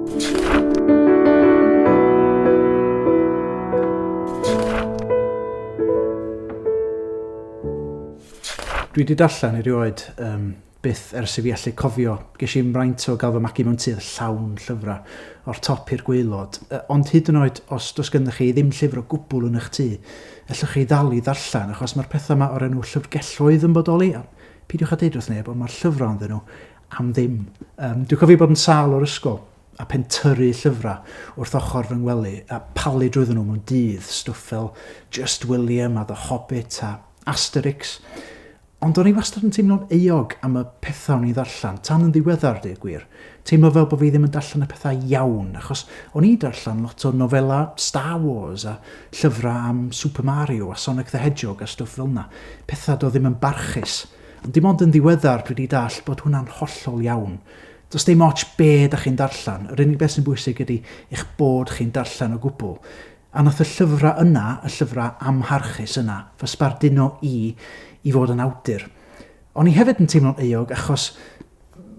Dwi wedi darllen erioed, um, byth ers i fi allu cofio. Ges i'n fraint o gael fy magu mewn tudd llawn llyfrau, o'r top i'r gweilod. Uh, ond hyd yn oed os does gennych chi ddim llyfr o gwbl yn eich tŷ, ellwch chi ddal i ddarllen, achos mae'r pethau yma o'r enw llyfrgelloedd yn bodoli, a pidiwch a deud wrth neb, ond mae'r llyfrau ynddyn nhw, am ddim. Um, dwi'n cofio bod yn sal o'r ysgol a pen tyru llyfrau wrth ochr fy ngwely a palu drwydden nhw mewn dydd, stwff fel Just William a The Hobbit a Asterix. Ond o'n i wastad yn teimlo'n eog am y pethau o'n i'n ddarllen, tan yn ddiweddar, dweud gwir. Teimlo fel bod fi ddim yn darllen y pethau iawn, achos o'n i'n darllen lot o nofela Star Wars a llyfrau am Super Mario a Sonic the Hedgehog a stwff fel yna. Pethau do ddim yn barchus. Ond dim ond yn ddiweddar dwi 'di dallt bod hwnna'n hollol iawn. Does dim ots be dach chi'n darllen, yr unig beth sy'n bwysig ydy eich bod chi'n darllen o gwbl. A wnaeth y llyfrau yna, y llyfrau amharchus yna, fy sbarduno i i fod yn awdur. O'n i hefyd yn teimlo'n euog achos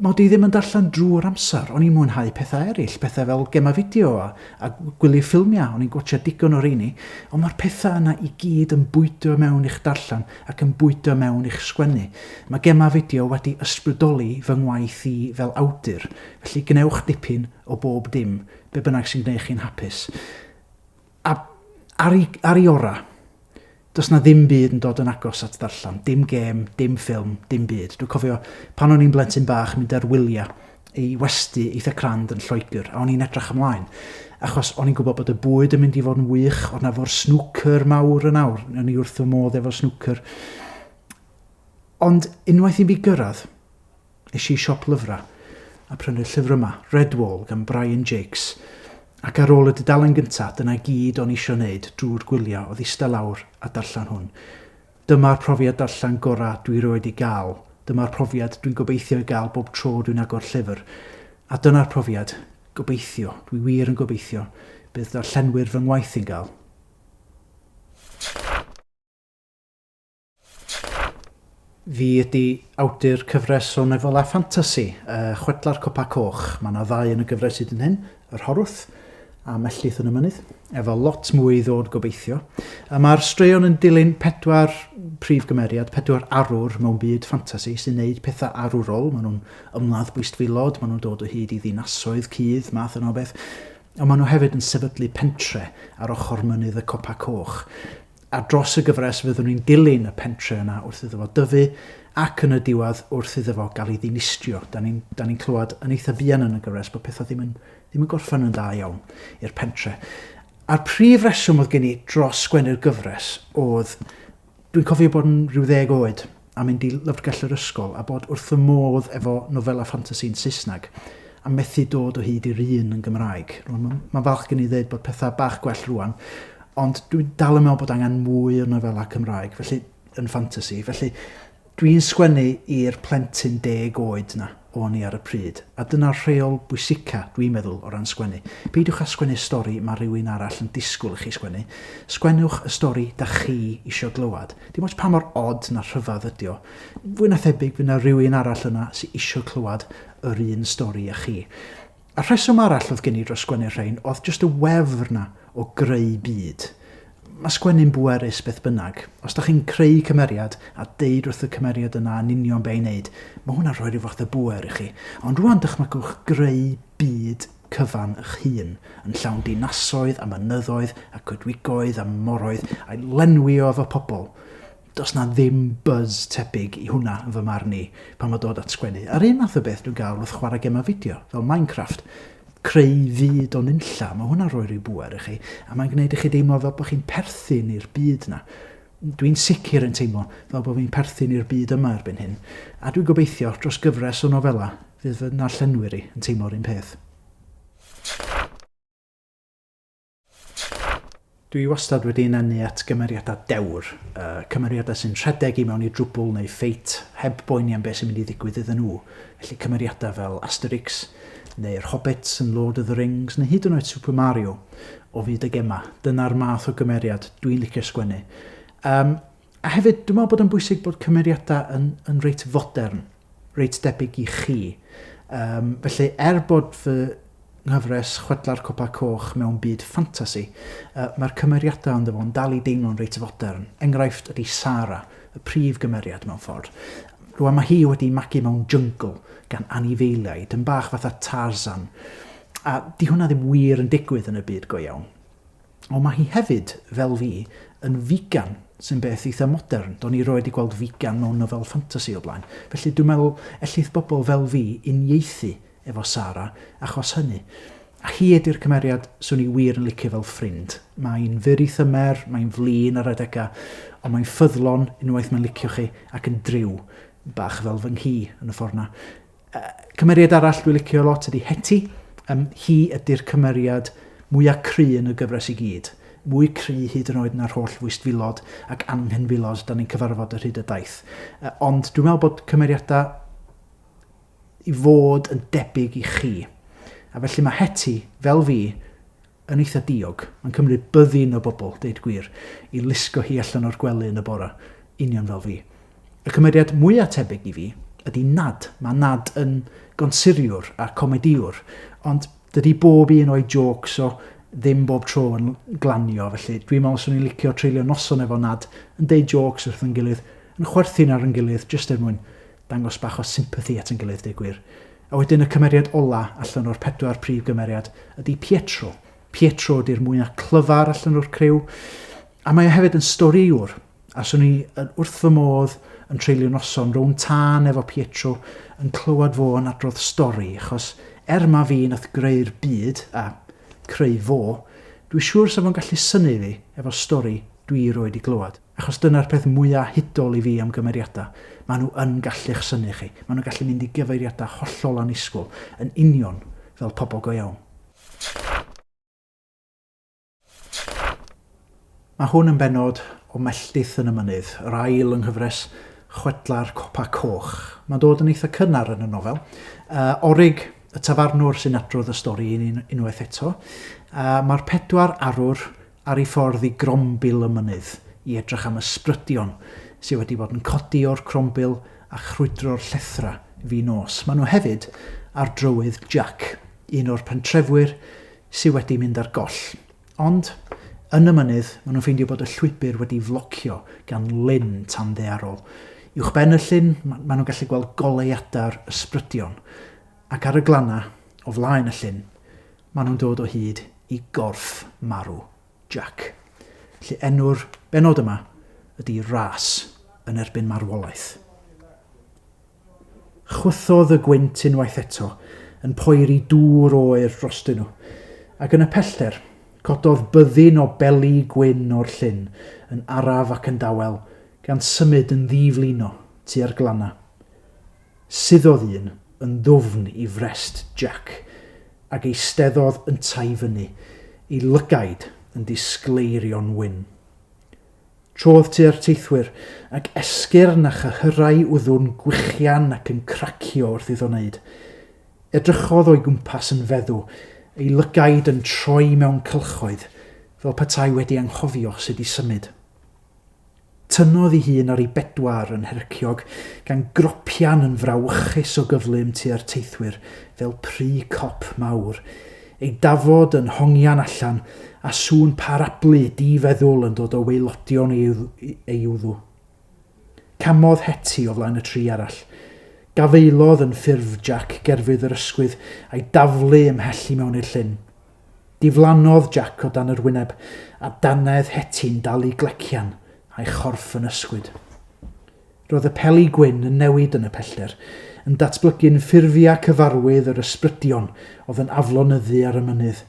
mod i ddim yn darllen drwy'r amser, o'n i'n mwynhau pethau eraill, pethau fel gemau fideo a, a gwylio ffilmiau, o'n i'n gwachio digon o reini, ond mae'r pethau yna i gyd yn bwydo mewn i'ch darllen ac yn bwydo mewn i'ch sgwennu. Mae gemau fideo wedi ysbrydoli fy ngwaith i fel awdur, felly gwnewch dipyn o bob dim, be bynnag sy'n gwneud chi'n hapus. A ar ei... ar ei orau, does 'na ddim byd yn dod yn agos at ddarllen. Dim gêm, dim ffilm, dim byd. Dwi'n cofio, pan o'n i'n blentyn bach, mynd ar wyliau i westy eitha crand yn Lloegr, a o'n i'n edrych ymlaen. Achos o'n i'n gwybod bod y bwyd yn mynd i fod yn wych, oedd 'na efo'r snwcer mawr yn awr, o'n i wrth fy modd efo'r snwcer. Ond unwaith i mi gyrraedd, Es i siop lyfrau a prynu'r llyfr yma, Redwall gan Brian Jacques, ac ar ôl y dudalen gyntaf, dyna i gyd o'n i isio wneud drwy'r gwyliau oedd ista lawr a darllen hwn. Dyma'r profiad darllen gorau dwi rioed wedi gael, dyma'r profiad dwi'n gobeithio ei gael bob tro dwi'n agor llyfr, a dyna'r profiad, gobeithio, dwi wir yn gobeithio, bydd darllenwyr fy ngwaith i'n gael. Fi ydi awdur cyfres o nofelau ffantasi, y Chwedlau'r Copa Coch. Mae yna ddau yn y gyfres hyd yn hyn, Yr Horwth a Melltith yn y Mynydd, efo lot mwy i ddod gobeithio. A mae'r straeon yn dilyn pedwar prif gymeriad, pedwar arwr mewn byd ffantasi sy'n neud pethau arwrol. Maen nhw'n ymladd bwystfilod, maen nhw'n dod o hyd i ddinasoedd, cudd, math yna o beth. Ond maen nhw hefyd yn sefydlu pentre ar ochr mynydd y Copa Coch. Ar dros y gyfres fyddwn ni'n dilyn y pentre yna wrth iddo fo dyfu ac yn y diwedd wrth iddo fo gael ei ddinistrio. Da ni'n da ni'n clywed yn eitha fuan yn y gyfres bod pethau ddim yn ddim yn gorffen yn dda iawn i'r pentre. A'r prif reswm oedd gen i dros sgwennu'r gyfres oedd dwi'n cofio bod yn rhyw ddeg oed a mynd i lyfrgell yr ysgol a bod wrth fy modd efo nofelau ffantasi yn Saesneg a methu dod o hyd i'r un yn Gymraeg. Rwan, mae'n ma falch gen i ddeud bod pethau bach gwell rwan, ond dwi'n dal yn meddwl bod angen mwy o nofelau Cymraeg, felly yn ffantasi. Felly, dwi'n sgwennu i'r plentyn deg oed na. o'n i ar y pryd, a dyna'r rheol bwysica, dwi'n meddwl, o ran sgwennu. Peidiwch â sgwennu'r stori mae rhywun arall yn disgwyl i chi sgwennu, sgwennwch y stori dach chi isio glywed. Dim ots pa mor od na rhyfedd ydi o, fwy na thebyg fydd 'na rywun arall yna sy isio clywed yr un stori â chi. A rheswm arall oedd gen i dros sgwennu'r rhain oedd jyst y wefr 'na o greu byd. Mae sgwennu'n bwerus beth bynnag. Os da chi'n creu cymeriad a deud wrth y cymeriad yna yn union be i wneud, mae hwnna'n rhoi rhyw fath o bŵer i chi. Ond rwan dychmygwch greu byd cyfan y'ch hun, yn llawn dinasoedd a mynyddoedd a coedwigoedd a moroedd, a'i lenwi o efo pobl. Does 'na ddim buzz tebyg i hwnna yn fy marn i pan mae dod at sgwennu. A'r un math o beth dwi'n gael wrth chwarae gemau fideo, fel Minecraft. Creu fyd o nunlla, mae hwnna'n rhoi rhyw bŵer i chi, a mae'n gwneud i chi deimlo fel bod chi'n perthyn i'r byd yna. Dwi'n sicr yn teimlo fel bod fi'n perthyn i'r byd yma erbyn hyn, a dwi'n gobeithio dros gyfres o nofelau fydd fy narllenwyr i yn teimlo'r un peth. Dwi wastad wedi ynganu at gymeriadau dewr, y cymeriadau sy'n rhedeg i mewn i drwbwl neu ffeit heb boeni am beth sy'n mynd i ddigwydd iddyn nhw, felly cymeriadau fel Asterix, neu'r Hobbits yn Lord of the Rings, neu hyd yn oed Super Mario o fyd y gemau. Dyna'r math o gymeriad dwi'n licio sgwennu. Yym. A hefyd, dwi'n meddwl bod o'n bwysig bod cymeriadau yn, yn reit fodern, reit debyg i chi. Um, felly, er bod fy nghyfres chwedla'r copa coch mewn byd ffantasi, uh, mae'r cymeriadau ond efo'n dal i deimlo'n reit fodern. Enghraifft ydy Sara, y prif gymeriad mewn ffordd. Rwan mae hi wedi magu mewn jungle gan anifeiliaid, yn bach fatha Tarzan. A di hwnna ddim wir yn digwydd yn y byd go iawn. Ond mae hi hefyd, fel fi, yn figan, sy'n beth eitha modern, do'n i roed i gweld figan mewn nofel ffantasi o blaen. Felly dwi'n meddwl ellith bobl fel fi uniaethu efo Sara achos hynny. A hi ydy'r cymeriad swn i wir yn licio fel ffrind. Mae'n fyr i thymer, mae'n flin ar adegau, ond mae'n ffyddlon unwaith mae'n licio chi ac yn driw, bach fel fy nghi yn y ffordd 'na. Yy cymeriad arall dwi'n licio lot ydy Hetty. Yym hi ydy'r cymeriad mwya' cry' yn y gyfres i gyd. Mwy cry' hyd yn oed na'r holl fwystfilod ac anghenfilod 'dan ni'n cyfarfod ar hyd y daith. Yy ond dwi'n meddwl bod cymeriada' i fod yn debyg i chi. A felly mae Hetty, fel fi, yn eitha diog. Mae'n cymryd byddin o bobl, deud gwir, i lusgo hi allan o'r gwely yn y bore, union fel fi. Y cymeriad mwya tebyg i fi ydi Nad. Mae Nad yn gonsuriwr a comedïwr, ond dydi bob un o'i jôcs o ddim bob tro yn glanio, felly dwi'n meddwl 'swn i'n licio treulio noson efo Nad yn deud jôcs wrth yn gilydd, yn chwerthin ar yn gilydd jyst er mwyn dangos bach o sympathy at yn gilydd deu gwir. A wedyn y cymeriad ola allan o'r pedwar prif gymeriad ydy Pietro. Pietro ydy'r mwyaf clyfar allan o'r criw, a mae o hefyd yn storiwr. A swn i yn wrth fy modd yn treulio noson rownd tân efo Pietro yn clywed fo yn adrodd stori, achos er ma fi nath greu'r byd, a creu fo, dwi siŵr sa fo'n gallu synu fi efo stori dwi roed i glywed. Achos dyna'r peth mwya' hudol i fi am gymeriadau, maen nhw yn gallu'ch synnu chi, maen nhw'n gallu mynd i gyfeiriadau hollol annisgwyl, yn union fel pobl go iawn. Mae hwn yn bennod o Melltith yn y Mynydd, yr ail yng nghyfres chwedlau'r Copa Coch. Mae'n dod yn eitha' cynnar yn y nofel. Orig, y tafarnwr sy'n adrodd y stori i ni unwaith eto. Mae'r pedwar arwr ar ei ffordd i grombil y mynydd i edrych am ysbrydion sydd wedi bod yn codi o'r crombil a chrwydro'r llethrau fin nos. Maen nhw hefyd ar drywydd Jack, un o'r pentrefwyr sydd wedi mynd ar goll. Ond, yn y mynydd, maen nhw'n ffeindio bod y llwybr wedi flocio gan lyn tanddaearol. Uwchben y llyn, maen nhw'n gallu gweld goleuadau'r ysbrydion. Ac ar y glannau, o flaen y llyn, maen nhw'n dod o hyd i gorff marw Jack. Felly enw'r bennod yma ydy Ras yn erbyn Marwolaeth. Chwythodd y gwynt unwaith eto yn poeri dŵr oer drostyn nhw, ac yn y pellter, cododd byddin o beli gwyn o'r llyn yn araf ac yn dawel, gan symud yn ddi-flino tua'r glannau. Suddodd un yn ddwfn i frest Jac, ac eisteddodd yntau i fyny, ei lygaid yn disgleirio'n wyn. Trodd tua'r teithwyr, ac esgyrn a chyhyrau wddw'n gwichian ac yn cracio wrth iddo wneud. Edrychodd o'i gwmpas yn feddw, ei lygaid yn troi mewn cylchoedd, fel petai wedi anghofio sut i symud. Tynnodd i hun ar ei bedwar yn herciog, gan gropian yn frawychus o gyflym tua'r teithwyr fel pry cop mawr. Ei dafod yn hongian allan, a sŵn parablu di-feddwl yn dod o waelodion ei wddw. Camodd Hetty o flaen y tri arall. Gafaelodd yn ffurf Jac gerfydd yr ysgwydd, a'i daflu ymhell i mewn i'r llyn. Diflannodd Jac o dan yr wyneb, a dannedd Heti'n dal i glecian, a'i chorff yn ysgwyd. Roedd y peli gwyn yn newid yn y pellter, yn datblygu'n ffurfiau cyfarwydd yr ysbrydion oedd yn aflonyddu ar y mynydd.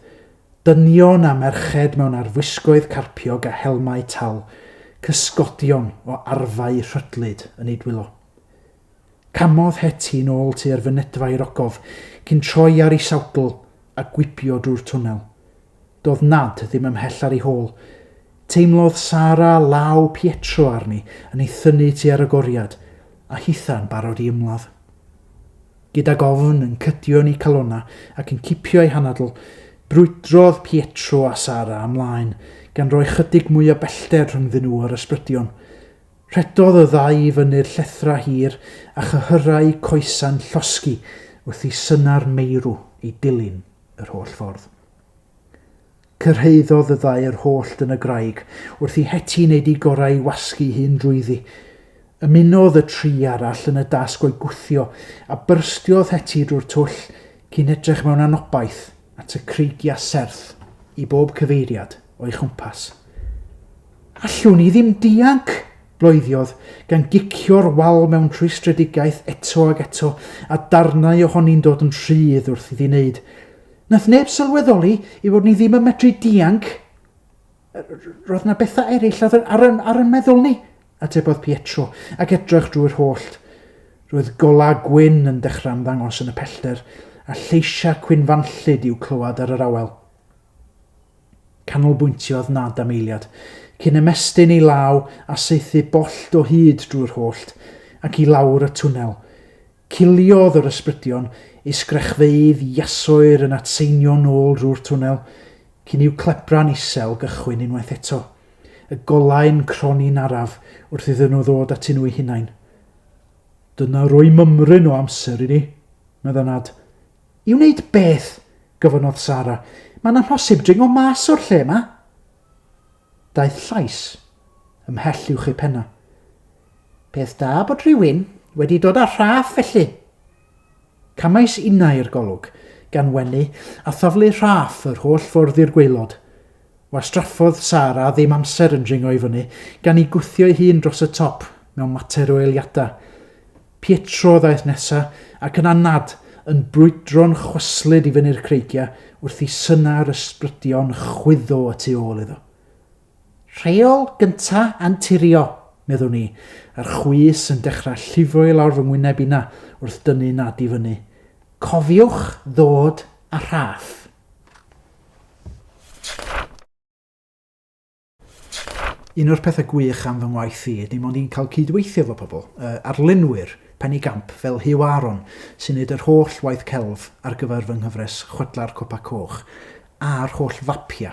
Dynion a merched mewn arfwisgoedd carpiog a helmau tal, cysgodion o arfau rhydlyd yn eu dwylo. Camodd Hetty yn ôl tua'r fynedfa i'r ogof, cyn troi ar ei sawdl a gwibio drwy'r twnnel. Doedd Nad ddim ymhell ar ei hôl. Teimlodd Sara law Pietro arni yn ei thynnu tua'r agoriad, a hitha'n barod i ymladd. Gydag ofn yn cydio yn ei calonna ac yn cipio ei hanadl, brwydrodd Pietro a Sara ymlaen, gan roi chydig mwy o bellter rhyngddyn nhw a'r ysbrydion. Rhedodd y ddau i fyny'r llethrau hir a chyhyrau coesau'n llosgi wrth i synau'r meirw eu dilyn yr holl ffordd. Cyrhaeddodd y ddau yr holl dyn y graig wrth i Heti wneud ei gorau i wasgu'i hun drwyddi. Ymunodd y tri arall yn y dasg o'i gwthio a byrstiodd Heti drwy'r twll cyn edrych mewn anobaith at y creigiau serth i bob cyfeiriad. o'i chwmpas. Allwn i ddim dianc! bloediodd, gan gicio'r wal mewn rhwystredigaeth eto ag eto, a darnau ohoni'n dod yn rhydd wrth iddi wneud. Nath neb sylweddoli i fod ni ddim yn medru dianc. Roedd na bethau eraill ar, ar, ar yn meddwl ni, atebodd Pietro, ac edrych drwy'r hollt. Roedd golau gwyn yn dechrau ymddangos yn y pellter, a lleisiau cwynfanllyd i'w clywed ar yr awel. Canolbwyntiodd nad am eiliad, cyn ymestyn ei law a saethu bollt o hyd drwy'r hollt, ac i lawr y twnnel. Ciliodd yr ysbrydion, ei sgrechfeydd iasoer yn atseinio nôl drwy'r twnnel, cyn i'w clebra'n isel gychwyn unwaith eto. Y golau'n croni'n araf wrth iddyn nhw ddod atyn nhw'u hunain. Dyna roi mymryn o amser i ni, medda Nad, I wneud beth? gofynnodd Sara. Mae'n amhosib dringo mas o'r lle 'ma. Daeth llais ymhell uwch ei phenna. Peth da bod rhywun wedi dod â Rhaff felly. Camais innau i'r golwg, gan wenu a thaflu Rhaff yr holl fwrdd i'r gwaelod. Wastraffodd Sara ddim amser yn dringo i fyny, gan i gwthio'i hun dros y top mewn mater o eiliadau. Pietro ddaeth nesa, ac yna Nad, yn brwydro'n chwyslyd i fyny'r creigiau, wrth i synau'r ysbrydion chwyddo y tu ôl iddo. Rheol gynta' anturio, meddwn i, a'r chwys yn dechrau llifo i lawr fy ngwyneb inna wrth dynnu Nad i fyny. Cofiwch ddod â rhaff. Un o'r pethau gwych am fy ngwaith i ydy mod i'n cael cydweithio efo pobl, uh, arlunwyr, Penny Gamp, fel Hugh Aaron, sy'n neud yr holl waith celf ar gyfer fy nghyfres Chwedla'r Copa Coch, a'r holl fapia.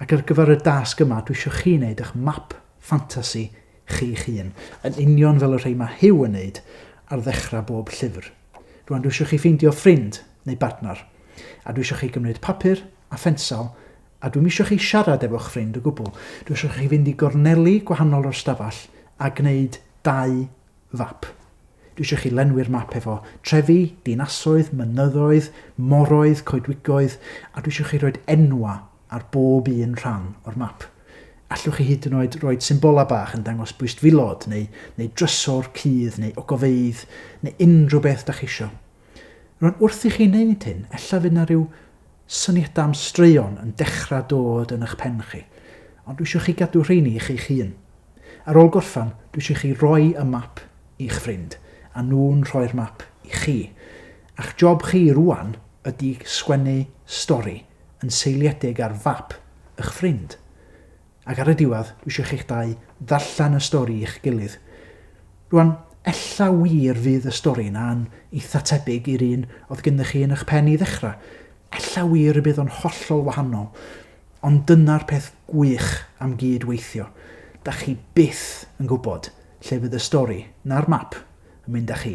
Ac ar gyfer y dasg yma, dwi eisiau chi wneud eich map ffantasi chi'ch hun, yn union fel y rhai mae Hugh yn neud ar ddechrau bob llyfr. Rwan dwi isio chi ffeindio ffrind neu bartner a dwi isio chi gymryd papur a phensel a dwi'm isio chi siarad efo'ch ffrind o gwbl. Dwi isio chi fynd i gorneli gwahanol o'r stafell a gwneud dau fap. Dwi isio chi lenwi'r map efo trefi, dinasoedd, mynyddoedd, moroedd, coedwigoedd a dwi isio chi roed enwa ar bob un rhan o'r map. Allwch chi hyd yn oed roed symbolau bach yn dangos bwystfilod neu, neu drysor cudd neu ogofeydd neu unrhyw beth da chi isio. Rwan wrth i chi wneud hyn, ella fydd yna rhyw syniadau am straeon yn dechrau dod yn eich pen chi, ond dwi eisiau chi gadw rheini i chi'ch hun. Ar ôl gorffan, dwi eisiau chi roi y map i'ch ffrind, a nhw'n rhoi'r map i chi. A'ch job chi rwan ydy sgwennu stori yn seiliedig ar fap y'ch ffrind. Ac ar y diwedd, dwi isio chi'ch dau ddarllen y stori i'ch gilydd. Rwan, ella wir fydd y stori 'na'n eitha tebyg i'r un oedd gynddoch chi yn y'ch pen i ddechrau. Ella wir y bydd o'n hollol wahanol. Ond dyna'r peth gwych am gyd-weithio. Dach chi byth yn gwybod lle fydd y stori, na'r map, yn mynd â chi.